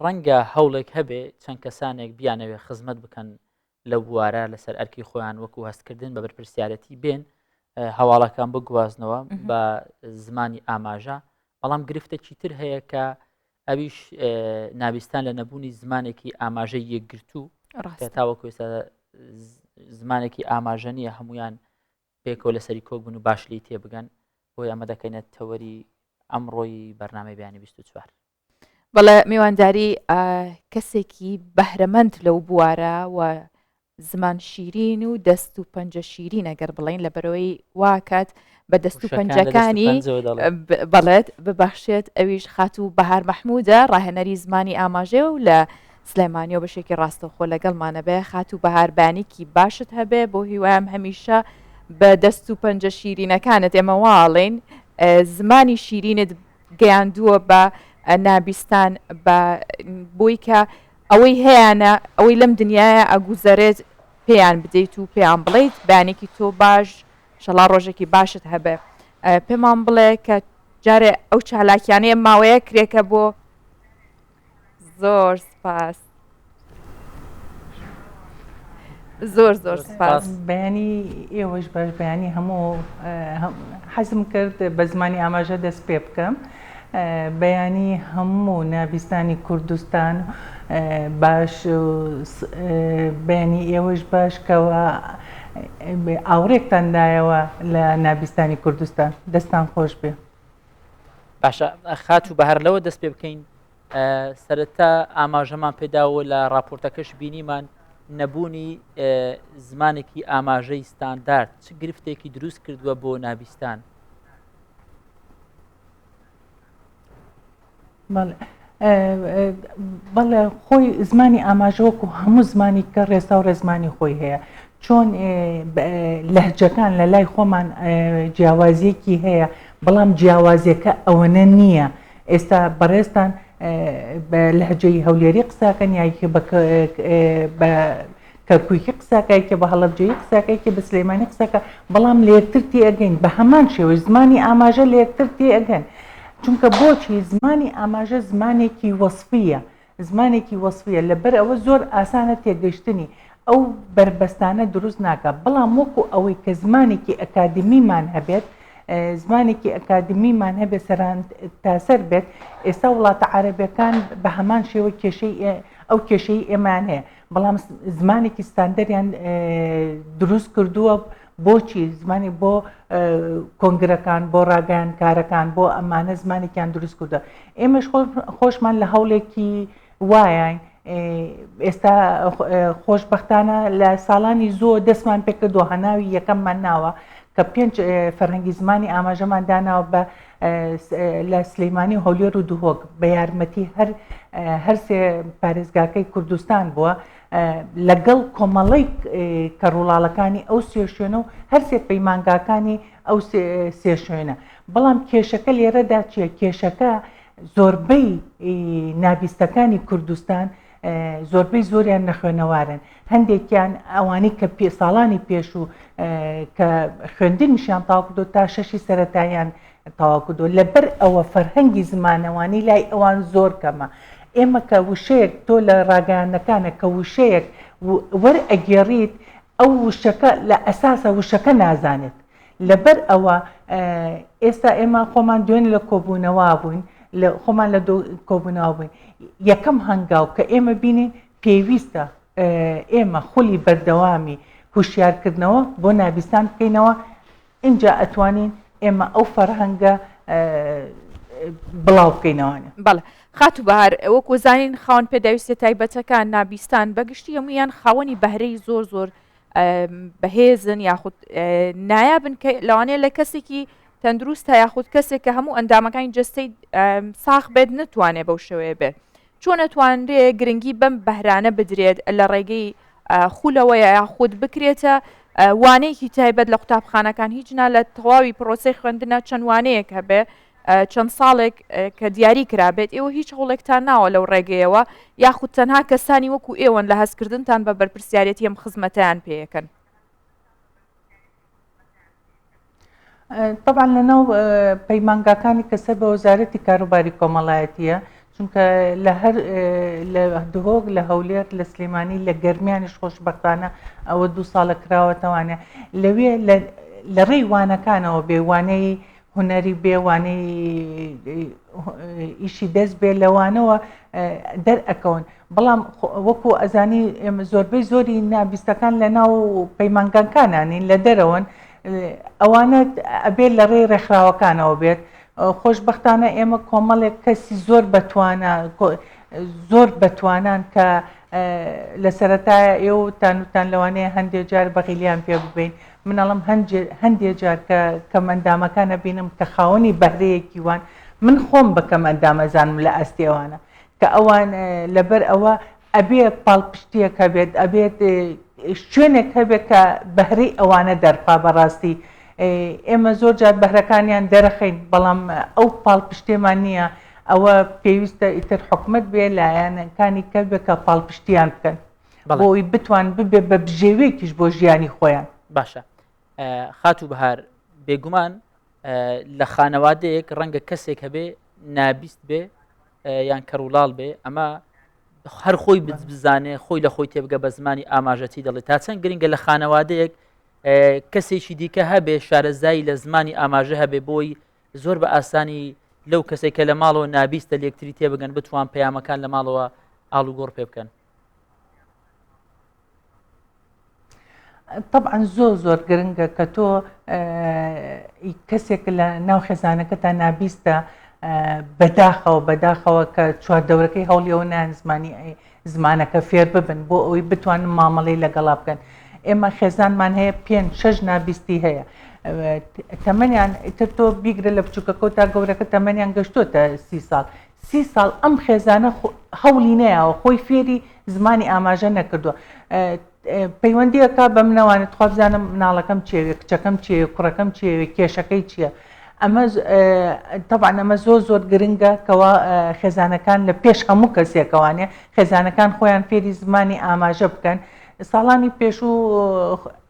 ڕەنگە هەوڵێک هەبێ چەند کەسانێک بیانەوێ خزمەت بکەن لە بوارە لەسەر ئەرکی خۆیان وەکو هەستکردن بە بەرپرسیارەتی بێن هەواڵەکان بگوازنەوە بە زمانی ئاماژە بەڵام گرفتێکی تر هەیە کە ئەویش ناویستان لە نەبوونی زمانێکی ئاماژەی یەکگرتوو تاوەکو زمانێکی ئاماژە نیە هەمویان پێکەوە لەسەری کۆک بن و باش لی تێبگەن بۆی ئەمە دەکەینە تەوەری ئەمڕۆی بەرنامەی بیانی 24. بەڵێ میوانداری کەسێکی بەهرەمەند لەو بوارە و زمان شیرین و دەست و پەنجە شیرین ئەگەر بڵین لە بەرەوەی واکات بە دەست و پەنجەکانی بەڵێت ببەخشێت ئەویش خات و بەهار مححمودە ڕاهێنەری زمانی ئاماژێ و لە سلێمانی و بەشێکی ڕاستەوخۆ لەگەڵمانە بێ خاتوو بەهار بانیکی باشت هەبێ بۆ هیوایم هەمیشە بە دەست و پەنجە شیرینەکانت ئێمە واڵین زمانی شیرینت گەیاندووە بە نابیستان بە بۆی کە ئەوەی هەیەە ئەوەی لەم دنیاە ئەگوزەرێت پێیان بدەیت و پێیان بڵیت بەیانێکی تۆ باش شەڵا ڕۆژێکی باشت هەبێ پێمان بڵێ کە جارێ ئەو چالاکیانەیە ماوەیە کرێکە بۆ زۆر سپاس زۆر زۆر سپاس بەیانی ئێوەش بەش بەیانی هەموو حەزم کرد بە زمانی ئاماژە دەست پێ بکەم بەیانی هەموو نابیستانی کوردستان باش بەیانی ئێوەش باش کەەوە ئاوڕێکتاندایەوە لە نابیستانی کوردستان دەستان خۆش بێ. باشە خات و بەهر لەوە دەست پێ بکەین سەرەتا ئاماژەمان پێداوە لە راپۆرتەکەش بینیمان نەبوونی زمانێکی ئاماژەی ستاندارد چ گرفتێکی دروست کردووە بۆ نابستان بەڵێ خۆی زمانی ئاماژە وەکو هەموو زمانی کە ڕێسا و ڕێزمانی خۆی هەیە چۆن لەهجەکان لە لای خۆمان جیاوازیەکی هەیە بەڵام جیاوازیەکە ئەوەنە نییە ئێستا بەڕێزتان لەهجەی هەولێری قساکەن یاکی بە کەرکوکی قساکایکە بە هەڵەبجەیی قساکایکە بە سلیمانی قساکە بەڵام لەیەکتر تێئەگەین بە هەمان شێوەی زمانی ئاماژە لەیەکتر تێئەگەن چونکە بۆچی زمانی ئاماژە زمانێکی وەسفیە زمانێکی وەسفیە لەبەر ئەوە زۆر ئاسانە تێگەشتنی ئەو بەربەستانە دروست ناکا بەڵام وەکو ئەوەی کە زمانێکی ئەکادمیمان هەبێت زمانێکی ئەکادمیمان هەبێ سەران تاسەر بێت ئێستا وڵاتە عربەکان بە هەمان شێوە کێشەی ئەو کێشەی ئێمان هەیە بەڵام زمانێکی ستاندەریان دروست کردووە بۆچی زمانی بۆ کۆنگرەکان بۆ ڕاگەیان کارەکان بۆ ئەمانە زمانێکیان دروست کردە ئێمەش خۆشمان لە هەوڵێکی وایە ئێستا خۆشببختانە لە ساڵانی زۆر دەستمان پێکردووە هەناوی یەکەممان ناوە کە پێنج فەرهەنگی زمانی ئاماژەمان داناوە بە لە سلیمانی و هەولێر و دهۆک بە یارمەتی هەر هەرسێ پارێزگاکەی کوردستان بووە لەگەڵ کۆمەڵی کە ڕوڵاڵەکانی ئەو سێ شوێنە و هەرسێ پەیمانگاکانی ئەو سێ شوێنە بەڵام کێشەکە لێرەدا چیە کێشەکە زۆربەی نابیستەکانی کوردستان زۆربەی زۆریان نەخوێنەوارن هەندێکیان ئەوانی کە پێ ساڵانی پێش و کە خوێندنیشیان تاوکردو تا شەشی سەتاییان تاواکردو لەبەر ئەوە فەرهەنگی زمانەوانی لای ئەوان زۆر کەمە ئێمە کە وشەیەک تۆ لە ڕاگەیانەکانە کە وشەیەک وەرئەگێڕیت ئەو وشەکە لە ئەساسە وشەکە نازانێت لەبەر ئەوە ئێستا ئێمە خۆمان دوێن لە کۆبوونەوە بووین خۆمان لە کۆبوونەوە بووین یەکەم هەنگاو کە ئێمە بینین پێویستە ئێمە خولی بەردەوامی هوشیارکردنەوە بۆ نابیسان بکەینەوە اینجا ئەتوانین ئێمە ئەو فەرهەنگە بڵاو بکەینەوەە بەڵێ خات و بەهار ئەوەک وەزانین خاون پێداویستە تایبەتەکان نابیستان بەگشتی هەمویان خاوەنی بەهرەی زۆر زۆر بەهێزن یاخود نایابن کە لەوانەیە لە کەسێکی تەندروستە یاخود کەسێک کە هەموو ئەندامەکانی جستەی ساخ بێت نتوانێت بەو شێوەیە بێت چۆن نتوانرێ گرنگی بەم بەهرانە بدرێت لە ڕێگەی خولەوە یاخود بکرێتە وانەیەکی تایبەت لە قوتابخانەکان هیچ نا لە تەواوی پرۆسی خوێندنە چەندوانەیەک هەبێ چەند ساڵێک کە دیاری کرابێت ئێوە هیچ هەوڵێکتان ناوە لەو ڕێگەیەوە یاخود تەنها کەسانی وەکو ئێوەن لە هەستکردنتان بە بەرپرسیارەتی ئەم خزمەتیان پێەکەن طبعا لەناو پەیمانگاکانی کە سەر بە وەزارەتی کاروباری کۆمەڵایەتیە چونکە لە هەر لە دهۆک لە هەولێر لە سلێمانی لە گەرمیانیش خۆشببختانە ئەوە دوو ساڵە کراوەتەوانە لەوێ لە ڕێی وانەکانەوە بێوانەی هونەری بێ وانەی ئیشی دەست بێ لەوانەوە دەرئەکەون بەڵام وەکو ئەزانی ئێمە زۆربەی زۆری نابیستەکان لە ناو پەیمانگانکانانین لە دەرەوەن ئەوانە ئەبێت لە ڕێی ڕێکخراوەکانەوە بێت خۆشببختانە ئێمە کۆمەڵێک کەسی زۆر بەتوانە زۆر بەتوانان کە لە سەتایە ئێوە تانوتان لەوانەیە هەندێک جار بەغیلیان پێ ببین من ئەڵێم هەندێ هەندێ جار کە کەم ئەندامەکان ئەبینم کە خاوەنی بەهرەیەکی وان من خۆم بە کەم ئەندام ئەزانم لە ئاستی ئەوانە کە ئەوان لەبەر ئەوە ئەبێ پاڵپشتیەک هەبێت ئەبێت شوێنێک هەبێت کە بەهرەی ئەوانە دەرخا بەڕاستی ئێمە زۆر جار بەهرەکانیان دەرەخەین بەڵام ئەو پاڵپشتێمان نییە ئەوە پێویستە ئیتر حکومت بێ لایەنەکانی کەلبێکە پاڵپشتیان بکەن بۆی بتوان ببێ بە بژێوێکیش بۆ ژیانی خۆیان باشە خات و بەهار بێگومان لە خانەوادەیەک ڕەنگە کەسێک هەبێ نابیست بێ یان کەڕولاڵ بێ ئەمە هەر خۆی بزانێ خۆی لە خۆی تێبگە بە زمانی ئاماژەتی دەڵێ تا چەند گرنگە لە خانەوادەیەک کەسێکی دیکە هەبێ شارەزایی لە زمانی ئاماژە هەبێ بۆی زۆر بە ئاسانی لەو کەسێکە لە ماڵەوە نابیستە لەکتری تێبگەن بتوان پەیامەکان لە ماڵەوە ئاڵوگۆڕ پێ بکەن طبعا زۆر زۆر گرنگە کە تۆ کەسێک لە ناو خێزانەکەتا نابیستە بەداخەوە بەداخەوە کە چواردەورەکەی هەوڵیەوە نان زمانی ئەی زمانەکە فێر ببن بۆ ئەوی بتوانن مامەڵی لەگەڵا بکەن ئێمە خێزانمان هەیە پێ شەش نابیستی هەیە تەمەنیان تر تۆ بیگرە لە بچووکەکە تا گەورەکە تەمەنیان گەشتوتە سی ساڵ سی ساڵ ئەم خێزانە هەوڵی نەیاوە خۆی فێری زمانی ئاماژە نەکردووە پەیوەندیەکە بە منەوانێت تخوا بزانم مناڵەکەم چێوێ کچەکەم چێ کوڕەکەم چێوێ کێشەکەی چییە ئەمە تەبان ئەمە زۆر زۆر گرنگە کەوا خێزانەکان لە پێش هەموو کەسێکەوانێ خێزانەکان خۆیان فێری زمانی ئاماژە بکەن ساڵانی پێشوو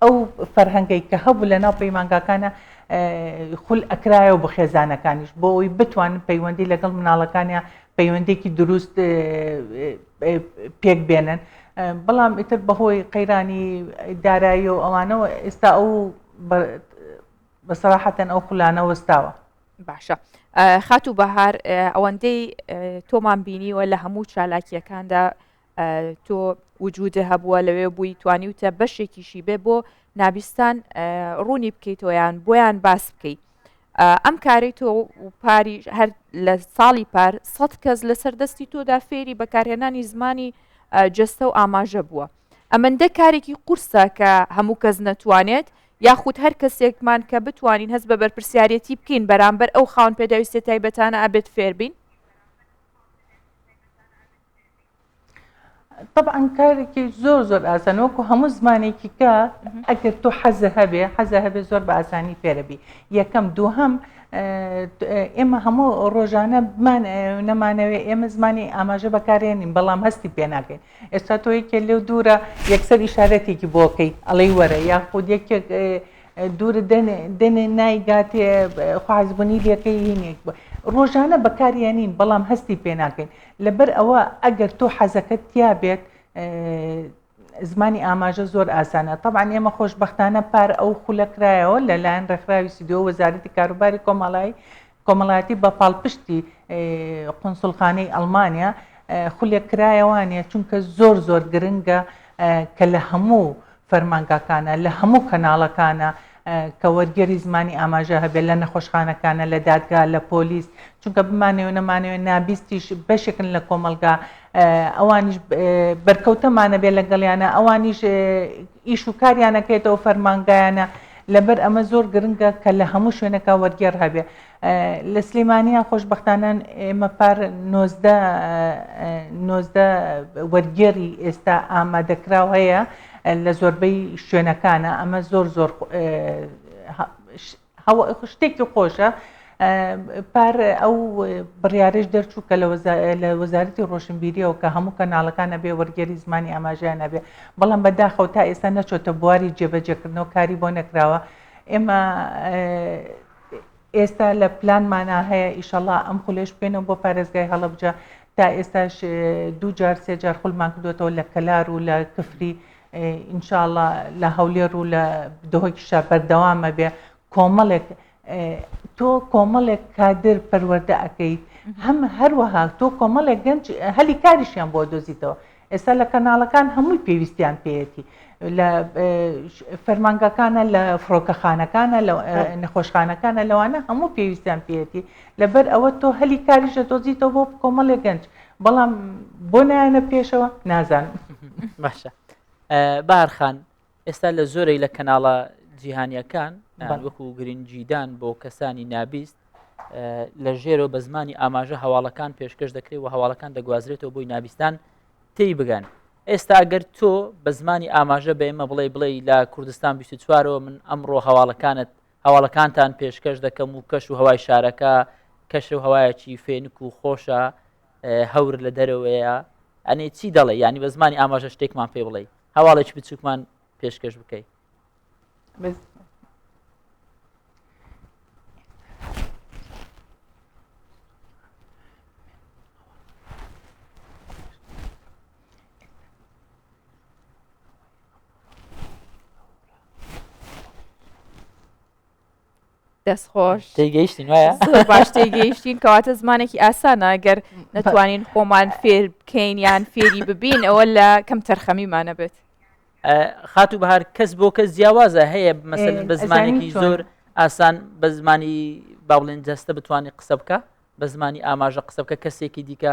ئەو فەرهەنگەی کە هەبوو لە ناو پەیمانگاکانە خول ئەکرایەوە بۆ خێزانەکانیش بۆ ئەوی بتوانن پەیوەندی لەگەڵ مناڵەکانیان پەیوەندێکی دروست پێک بێنن بەڵام ئیتر بەهۆی قەیرانی دارایی و ئەوانەوە ئێستا ئەو بەسەراحەتەن ئەو خولانە وەستاوە باشە خاتوو بەهار ئەوەندەی تۆمان بینیوە لە هەموو چالاکیەکاندا تۆ وجودە هەبووە لەوێ بووی توانیوتە بەشێکیشی بێ بۆ نابیستان ڕوونی بکەیتەوەیان بۆیان باس بکەیت ئەم کاری تۆ پاری هەر لە ساڵی پار سەد کەس لەسەر دەستی تۆدا فێری بەکارهێنانی زمانی جستە و ئاماژە بووە ئەمەندە کارێکی قورسە کە هەموو کەس نەتوانێت یاخود هەر کەسێکمان کە بتوانین هەست بە بەرپسیارەتی بکەین بەرامبەر ئەو خاون پێداویستە تایبەتانە ئابێت فێربین طبعا کارێکی زۆر زۆر ئاسان وەکو هەموو زمانێکی کە ئەگەر تۆ حەزە هەبێ حەزە هەبێ زۆر بە ئاسانی فێرەبی یەکەم دوو هەم ئێمە هەموو ڕۆژانە نەمانەوێت ئێمە زمانی ئاماژە بەکارێنین بەڵام هەستی پێ ناکەین ئێستا تۆ یەکێ لێو دوورە یەکسەر ئیشارەتێکی بۆکەی ئەڵەی وەرە یاخود یەکێک دوور دێنێ نایگاتێ خوازبوونی لەکەی هینێک بوو ڕۆژانە بەکاریانین بەڵام هەستی پێ ناکەین لەبەر ئەوە ئەگەر تۆ حەزەکەت تیا بێت زمانی ئاماژە زۆر ئاسانە طبعا ئێمە خۆشببختانە پار ئەو خولە کرایەوە لەلایەن ڕێکخراوی سیدۆ وەزارەتی کاروباری کۆمەڵایی کۆمەڵایەتی بە پاڵپشتی قنسلخانەی ئەلمانیا خولێک کرایەوانە چونکە زۆر زۆر گرنگە کە لە هەموو فەرمانگاکانە، لە هەموو کەناڵەکانە کە وەرگێری زمانی ئاماژە هەبێت، لە نەخۆشخانەکانە، لە دادگا، لە پۆلیس، چونکە بمانەوێ نەمانەوێ نابیستیش بەشێکن لە کۆمەڵگا، ئەوانیش بەرکەوتەمانەبێ لەگەڵیانە، ئەوانیش ئیش و کاریانەکەێتەوە فەرمانگایانە، لەبەر ئەمە زۆر گرنگە کە لە هەموو شوێنەکە وەرگێڕ هەبێ، لە سلیمانیە خۆشبەختانە ئێمە پار نۆزدە نۆزدە وەرگێڕی ئێستا ئامادەکراو هەیە لە زۆربەی شوێنەکانە ئەمە زۆر زۆر شتێکی خۆشە پار ئەو بڕارێش دەرچوو کە لە وەزارەتی ڕۆشنبیریەوە کە هەموو کەناڵەکانە بێ وەرگێری زمانی ئاماژیانە بێ بەڵام بەداخەوە تا ئێستا نەچۆتە بواری جێبەجێکردنەوە کاری بۆ نەکراوە ئێمە ئێستا لە پلانمانا هەیە ئیشەڵا ئەم خولەش بکەینەوە بۆ پارێزگای هەڵەبجە تا ئێستاش دوو جار سێ جار خولمان کردوێتەوە لە کەلار و لە کفری ئینشاءڵە لە هەولێر و لە دهۆکیشا بەردەوامە بێ کۆمەڵێک تۆ کۆمەڵێک کادر پەروەەردە ئەەکەیت هەم هەروەها تۆ کۆمەڵێک گەنج هەلی کاریشیان بۆ دۆزیتەوە ئێستا لە کەناڵەکان هەمووی پێویستیان پێیەتی لە فەرمانگەکانە لە فڕۆکەخانەکانە لە نەخۆشخانەکانە لەوانە هەموو پێویستیان پێیەتی لەبەر ئەوە تۆ هەلی کاریش لە دۆزیتەوە بۆ کۆمەڵێ گەنج بەڵام بۆ نایەنە پێشەوە نازانم باشە بارخان ئێستا لە زۆرێک لە کەناڵە جیهانیەکان وەکو گرنگجیدان بۆ کەسانی نابیست لە ژێرەوە بە زمانی ئاماژە هەواڵەکان پێشکەش دەکرێت و هەواڵەکان دەگوازرێتەوە بۆی نابیستان تی بگەن ئێستا گەر تۆ بە زمانی ئاماژە بە ئێمە بڵێ بڵێ لە کوردستان 24ەوە من ئەمڕۆ هەواڵەکانت هەواڵەکانتان پێشکەش دەکەم و کەش و هەوای شارەکە کەش و هەوایەکی فێنک و خۆشە هەور لە دەرەوەیە ئەنێ چی دەڵێ ینی بە زمانی ئاماژە شتێکمان پێ بڵێ هەواڵێک بچووکمان پێشکەش بکەیت دەست خۆش تێگەیشتین وایە زۆر باش تێگەیشتین کەواتە زمانێکی ئاسانە گەر نەتوانین خۆمان فێر بکەین یان فێری ببین ئەوە لە کەم تەرخەمیمانە بێت خاتو بەهار کەس بۆ کەس جیاوازە هەیە مەسەن بە زمانێکی زۆر ئاسان بە زمانی باڵێن جەستە بتانی قسە بکە بە زمانی ئاماژە قسە بکە کەسێکی دیکە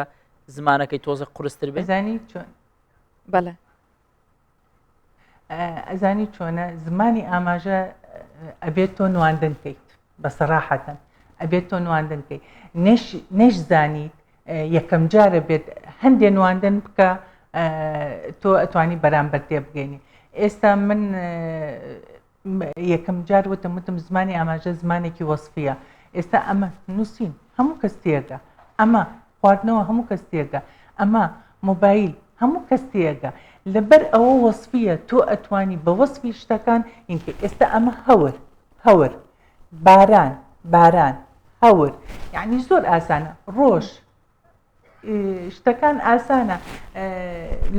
زمانەکەی تۆزە قرستر بزانی چۆن بەڵێ ئەزانی چۆنە زمانی ئاماژە ئەبێت تۆ نواندن کەیت بە سەراحەتەن ئەبێت تۆ نواندن کەیت نەش زانیت یەکەم جارە بێت هەندێ نواندن بکە تۆ ئەتوانی بەرامبەر تێ بگەینی ئێستا من یەکەمجار وتم وتم زمانی ئاماژە زمانێکی وەسفییە ئێستا ئەمە نووسین هەموو کەس تێگە ئەمە خواردنەوە هەموو کەس تێگە ئەمە مۆبایل هەموو کەس تێگە لەبەر ئەوە وەسفییە تۆ ئەتوانی بە وەسفی شتەکان ئینکە ئێستا ئەمە هەور هەور باران باران هەور یعنی زۆر ئاسانە ڕۆژ شتەکان ئاسانە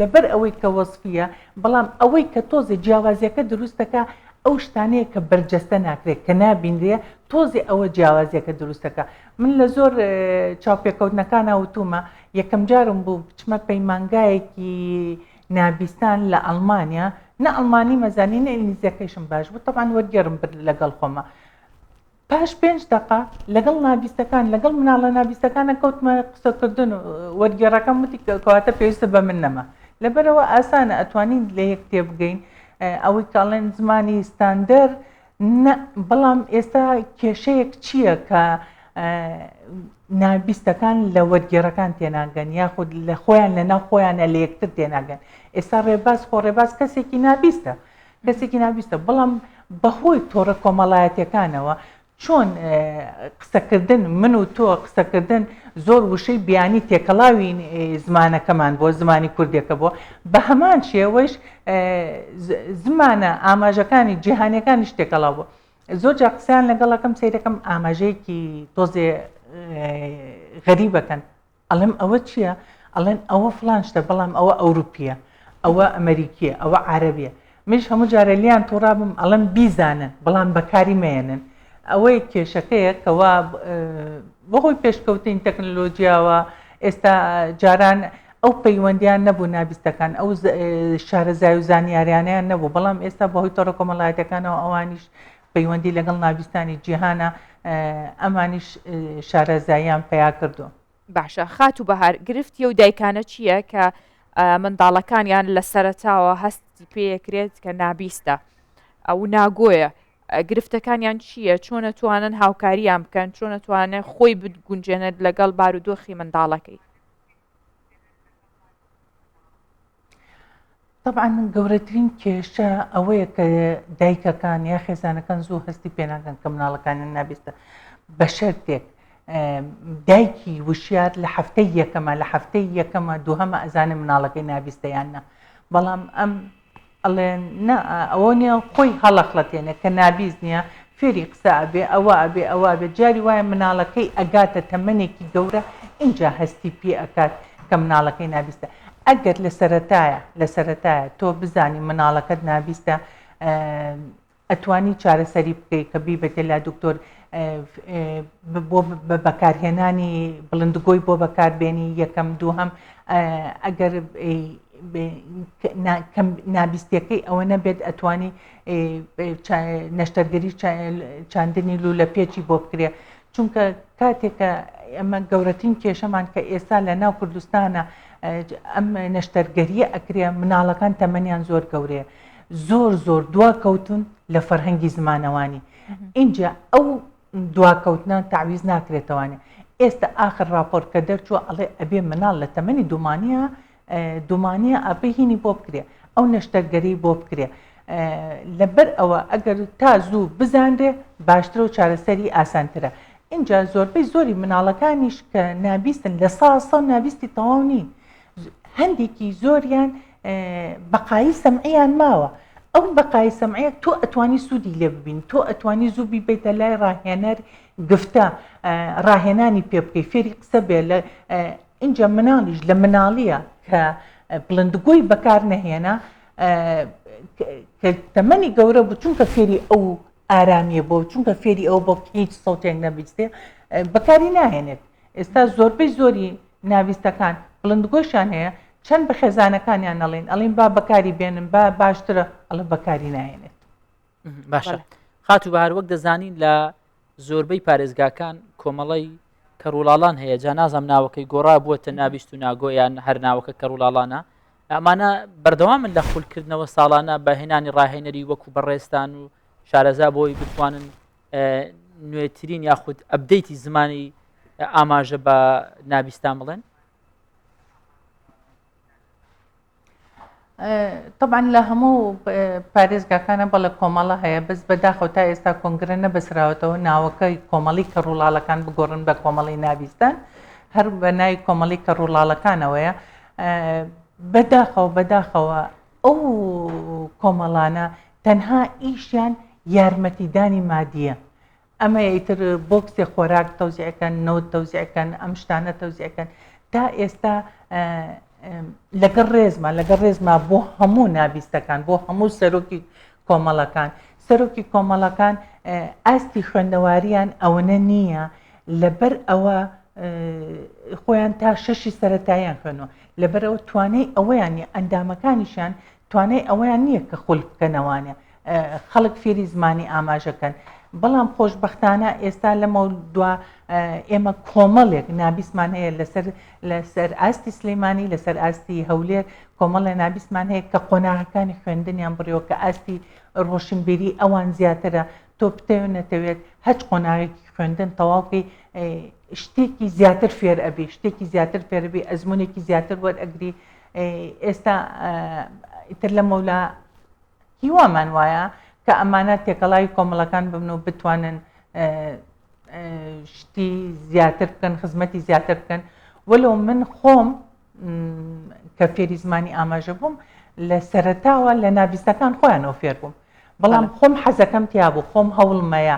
لەبەر ئەوەی کە وەسفیە بەڵام ئەوەی کە تۆزێ جیاوازیەکە دروستەکە ئەو شتانەیە کە بەرجەستە ناکرێت کە نابینرێ تۆزێ ئەوە جیاوازیەکە دروستەکە من لە زۆر چاوپێکەوتنەکانە وتومە یەکەم جارم بوو بچمە پەیمانگایەکی نابیستان لە ئەلمانیا نە ئەلمانی مەزانینە ئینگلیزیەکەیشم باش بوو تەبان وەرگێرم برد لەگەڵ خۆمە پاش پێنج دەقە لەگەڵ نابیستەکان لەگەڵ مناڵە نابیستەکانە کەوتمە قسەکردن و وەرگێڕەکەم وتی کەواتە پێویستە بە من نەما لەبەرەوە ئاسانە ئەتوانین لە یەک تێبگەین ئەوەی کاڵێن زمانی ستاندەر بەڵام ئێستا کێشەیەک چییە کە نابیستەکان لە وەرگێڕەکان تێناگەن یاخود لە خۆیان لە ناو خۆیانە لە یەکتر تێناگەن ئێستا ڕێباز خۆ ڕێباز کەسێکی نابیستە کەسێکی ناویستە بەڵام بەهۆی تۆڕە کۆمەڵایەتیەکانەوە چۆن قسەکردن من و تۆ قسەکردن زۆر وشەی بیانی تێکەڵاوی زمانەکەمان بۆ زمانی کوردێکە بۆ بە هەمان شێوەش زمانە ئاماژەکانی جیهانەکانی شتێکەڵا بۆ زۆر جا قسەیان لەگەڵەکەم سیرەکەم ئاماژەیەکی تۆزێ غەریبەکەن ئەڵێم ئەوە چیە؟ ئەڵێن ئەوە فڵان شتە بەڵام ئەوە ئەوروپیە، ئەوە ئەمەریکیە، ئەوە عارەبیە. منیش هەموو جارێ لێیان توڕابم ئەڵێم بیزانن بەڵام بەکاری مەیەنن. ئەوە یەک کێشەکەیە کەوا بەهۆی پێشکەوتنی تەکنەلۆجیاوە ئێستا جاران ئەو پەیوەندیان نەبوو نابیستەکان ئەو شارەزای و زانیاریانیان نەبوو بەڵام ئێستا بەهۆی تۆڕە کۆمەڵایەتەکانەوە ئەوانیش پەیوەندی لەگەڵ ناڤستانی جیهانە ئەمانیش شارەزاییان پەیا کردووە. باشە خاتو بەهار گرفتی ئەو دایکانە چییە کە منداڵەکانیان لە سەرەتاوە هەستی پێکرێت کە نابیستە ئەو ناگۆیە گرفتەکانیان چییە چۆنە توانن هاوکاریان بکەن چۆنە توانێت خۆی بگونجێنێت لەگەڵ بارودۆخی منداڵەکەی تەبعەن گەورەترین کێشە ئەوەیە کە دایکەکان یا خێزانەکان زوو هەستی پێناکەن کە مناڵەکانیان نابێتە بە شەرتێک دایکی وشیات لە هەفتەی یەکەمە لە هەفتەی یەکەمە دووهەمە ئەزانێ مناڵەکەی نابیستەیاننا بەڵام ئەم ئەڵێن نا ئەوەنیە خۆی هەڵەخڵەتێنێ کە نابیز نیە فێری قسە ئەبێ ئەوە ئەبێ ئەوە ئەبێ جاری وایە مناڵەکەی ئەگاتە تەمەنێکی گەورە ئینجا هەستی پێ ئەکات کە مناڵەکەی نابیستە ئەگەر لە سەرەتایە لە سەرەتایە تۆ بزانی مناڵەکەت نابیستە ئەتوانی چارەسەری بکەی کە بیبەتە لا دکتۆر بۆ بە بەکارهێنانی بڵندگۆی بۆ بەکاربێنی یەکەم دووهەم ئەگەر نابیستەکەی ئەوە نەبێت ئەتوانی نەشتەرگەری چاندنی لو لە پێچی بۆ بکرێ چونکە کاتێکە ئەمە گەورەترین کێشەمان کە ئێستا لە ناو کوردستانە ئەم نەشتەرگەریە ئەکرێ مناڵەکان تەمەنیان زۆر گەورەیە زۆر زۆر دواکەوتون لە فەرهەنگی زمانەوانی ئینجا ئەو دواکەوتنان تعویز ناکرێتەوانێ ئێستا ئاخر راپۆرت کە دەرچووە ئەڵێ ئەبێ مناڵ لە تەمەنی دومانە دومانە ئەبهینی بۆ بکرێ ئەو نەشتەرگەری بۆ بکرێ لەبەر ئەوە ئەگەر تا زوو بزانرێ باشترە و چارەسەری ئاسانترە اینجا زۆربەی زۆری مناڵەکانیش کە نابیستن لە ساسە نابیستی تەواو نین هەندێکی زۆریان بەقایی سەمعیان ماوە ئەو بەقای سەمعەیە تۆ ئەتوانی سوودی لێ ببین تۆ ئەتوانی زوو بیبیتە لای ڕاهێنەر گفتە ڕاهێنانی پێ بکەی فێری قسە بێ لە اینجا مناڵیش لە مناڵیە کە بڵندگۆی بەکار نەهێنا کە تەمەنی گەورە بچونکە فێری ئەو ئارامیە بۆ چونکە فێری ئەوە بۆ هیچ سەوتێک نەبیستێ بەکاری ناهێنێت ئێستا زۆربەی زۆری ناویستەکان بڵندگۆشیان هەیە چەند بە خێزانەکانیان نەڵین ئەڵین با بەکاری بێنن بە باشترە ئەڵە بەکاری ناهێنێت باشە خاتو بە هەروەک دەزانین لە زۆربەی پارێزگاکان کۆمەڵی کەڕولاڵان هەیە جا نازم ناوەکەی گۆڕا بووە تە نابیست و ناگۆیان هەر ناوەکە کەڕولاڵانە ئەمانە بەردەوامن لە خولکردنەوە ساڵانە بە هێنانی ڕاهێنەری وەکو بەڕێزتان و شارەزا بۆی بتوانن نوێترین یاخود ئەبدەیتی زمانی ئاماژە بە نابیستان بڵێن طبعا لە هەموو پارێزگاکانە بە لە کۆمەڵە هەیە بەس بەداخەوە تا ئێستا کۆنگرە نەبەسراوەتەوە ناوەکەی کۆمەڵی کە ڕووڵاڵەکان بگۆڕن بە کۆمەڵی نابیستان هەر بە ناوی کۆمەڵی کە ڕووڵاڵەکانەوەیە بە داخەوە بە داخەوە ئەو کۆمەڵانە تەنها ئیشیان یارمەتیدانی مادیە ئەمە ئیتر بۆکسێ خۆراک تەوزیعەکەن نەوت تەوزیعەکەن ئەم شتانە تەوزیعەکەن تا ئێستا لەگەڵ ڕێزما لەگەڵ ڕێزما بۆ هەموو نابیستەکان بۆ هەموو سەرۆکی کۆمەڵەکان، سەرۆکی کۆمەڵەکان ئاستی خوێندەوارییان ئەوەنە نییە، لەبەر ئەوە خۆیان تا شەشی سەتاییان خوێنوە، لەبەرەوە توانای ئەوەیان نیە ئەندامەکانیشیان توانای ئەوەیان نییە کە خول بکەنەوانە خەڵک فێری زمانی ئاماژەکەن. بەڵام خۆشببختانە ئێستا لەمە دوا ئێمە کۆمەڵێک نابیسمان هەیە لەسەر لەسەر ئاستی سلیمانی لەسەر ئاستی هەولێر کۆمەڵێ نابیسمان هەیە کە قۆناغەکانی خوێندنیان بڕیەوە کە ئاستی ڕۆشنبیری ئەوان زیاترە تۆ بتەوێت نەتەوێت هەچ قۆناغێکی خوێندن تەواوکەی شتێکی زیاتر فێر ئەبی شتێکی زیاتر فێربی ئەزمونێکی زیاتر وەرئەگری ئێستا ئیتر لە مەولا هیوامان وایە کە ئەمانە تێکەڵاوی کۆمەڵەکان ببن و بتوانن شتی زیاتر بکەن خزمەتی زیاتر بکەن وەلو من خۆم کە فێری زمانی ئاماژە بووم لە سەرتاوە لە ناویستەکان خۆیانەوە فێر بووم بەڵام خۆم حەزەکەم تیابوو خۆم هەوڵمەیە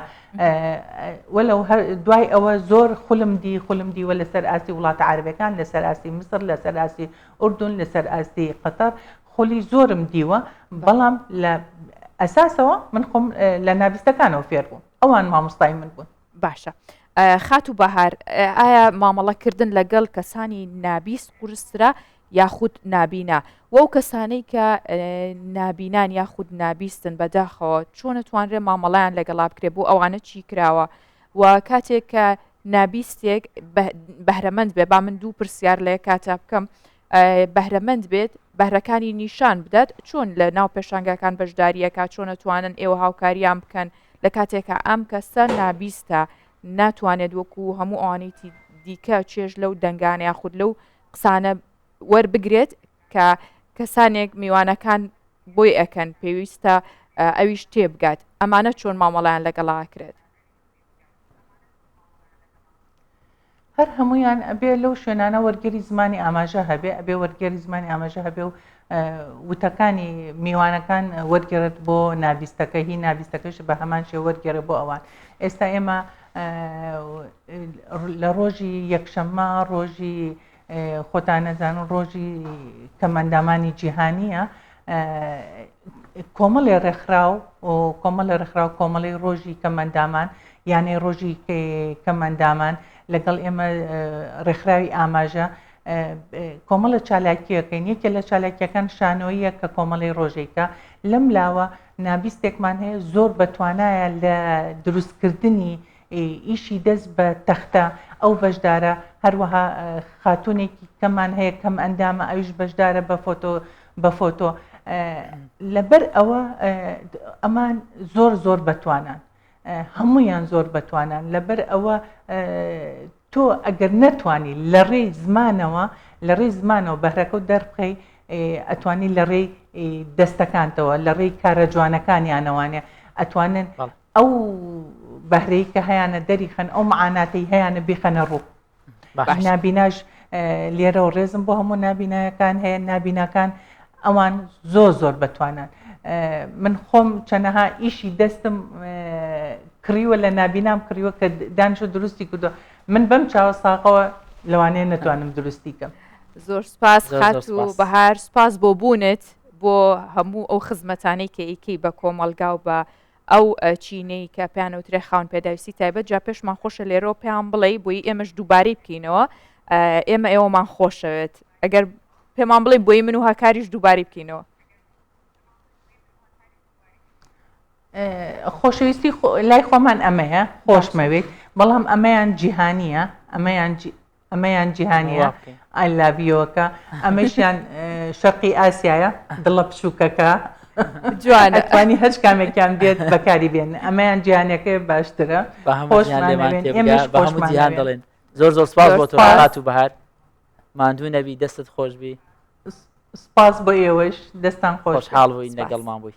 وەلو دوای ئەوە زۆر خولم دی خولم دیوە لەسەر ئاستی وڵاتە عربەکان لەسەر ئاستی مسر لەسەر ئاستی ئوردون لەسەر ئاستی قەتەر خولی زۆرم دیوە بەڵام لە ئەساسەوە من خۆم لە ناویستەکانەوە فێر بووم ئەوان مامۆستای من بوون باشە خات و بەهار ئایا مامەڵەکردن لەگەڵ کەسانی نابیست قورسترا یاخود نابینا وەو کەسانەی کە نابینان یاخود نابیستن بەداخەوە چۆنە توانرێ مامەڵیان لەگەڵا بکرێ بۆ ئەوانە چی کراوە و کاتێک کە نابیستێک بەهرەمەند بێ با من دوو پرسیار لێ کاتە بکەم بەهرەمەند بێت بەهرەکانی نیشان بدات چۆن لە ناو پێشانگاکان بەشداریەکە چۆنە توانن ئێوە هاوکاریان بکەن لە کاتێکە ئەم کەسە نابیستە ناتوانێت وەکو هەموو ئەوانیتی دیکە چێژ لەو دەنگانە یاخود لەو قسانە وەربگرێت کە کەسانێک میوانەکان بۆی ئەەکەن پێویستە ئەویش تێبگات ئەمانە چۆن مامەڵیان لەگەڵاکرێت هەر هەموویان ئەبێ لەو شوێنانە وەرگێری زمانی ئاماژە هەبێ ئەبێ وەرگێری زمانی ئاماژە هەبێ و وتەکانی میوانەکان وەرگێرت بۆ نابیستەکە هی نابیستەکەش بە هەمان شێ وەرگێرە بۆ ئەوان ئێستا ئێمە لە ڕۆژی یەکشەممە ڕۆژی خۆتان ئەزانن ڕۆژی کەمئەندامانی جیهانییە کۆمەڵێ ڕێکخراو کۆمەڵە ڕێکخراو کۆمەڵی ڕۆژی کەمەندامان یانەی ڕۆژی کەمەندامان لەگەڵ ئێمە ڕێکخراوی ئاماژە کۆمەڵە چالاکیەکەین یەکێ لە چالاکیەکان شانۆیە کە کۆمەڵی ڕۆژێکە لەم لاوە نابیستێکمان هەیە زۆر بەتوانایە لە دروستکردنی ئیشی دەست بە تەختە ئەو بەشدارە، هەروەها خاتوونێکی کەمان هەیە کەم ئەندامە ئەویش بەشدارە بە فۆتۆ بە فۆتۆ لەبەر ئەوە ئەمان زۆر زۆر بەتوانان هەمویان زۆر بەتوانان لەبەر ئەوە تۆ ئەگەر نەتوانی لە ڕێی زمانەوە لە ڕێی زمانەوە بەهرەکە و دەربخەی ئەتوانی لە ڕێی دەستەکانتەوە لە ڕێی کارە جوانەکانیانەوانێ ئەتوانن ئەو بەهرەی کە هەیانە دەریخەن ئەو معاناتەی هەیانە بیخەنە ڕوو نابیناش لێرە و ڕێزم بۆ هەموو نابینایەکان هەیە نابیناکان ئەوان زۆر زۆر بەتوانان من خۆم چەنەها ئیشی دەستم کڕیوە لە نابینام کڕیوە کە دانش و دروستی کردو من بەم چاوە ساقەوە لەوانەیە نەتوانم دروستی کەم زۆر سپاس خات و بەهار سپاس بۆ بوونت بۆ هەموو ئەو خزمەتانەی کە ئیکەی بە کۆمەلگا و بە ئەو چینەی کە پێیان ئەوترێ خاوەن پێداویستی تایبەت جا پێشمان خۆشە لێرەوە پێیان بڵێی بۆی ئێمەش دووبارەی بکەینەوە ئێمە ئێوەمان خۆشەوێت ئەگەر پێمان بڵێ بۆی من و هاکاریش دووباری بکەینەوە خۆشەویستی لای خۆمان ئەمەیە خۆشمەوێت بەڵام ئەمەیان جیهانیە ئەمەیان ئەمەیان جیهانیە ئایلاڤیۆکە ئەمەشیان شەقی ئاسایە دڵە پشووکەکە جوانەتوانی هەچ کامێکیان بێت بەکاری بێن ئەمەیان جیانەکە باشترە جیهان دەڵێن زۆر زۆر سپاس بۆ تۆات و بەهار ماندوو نەبی دەستت خۆشببی سپاس بۆ ئێوەش دەستان خۆش حاڵ بووین لەگەڵمان بووی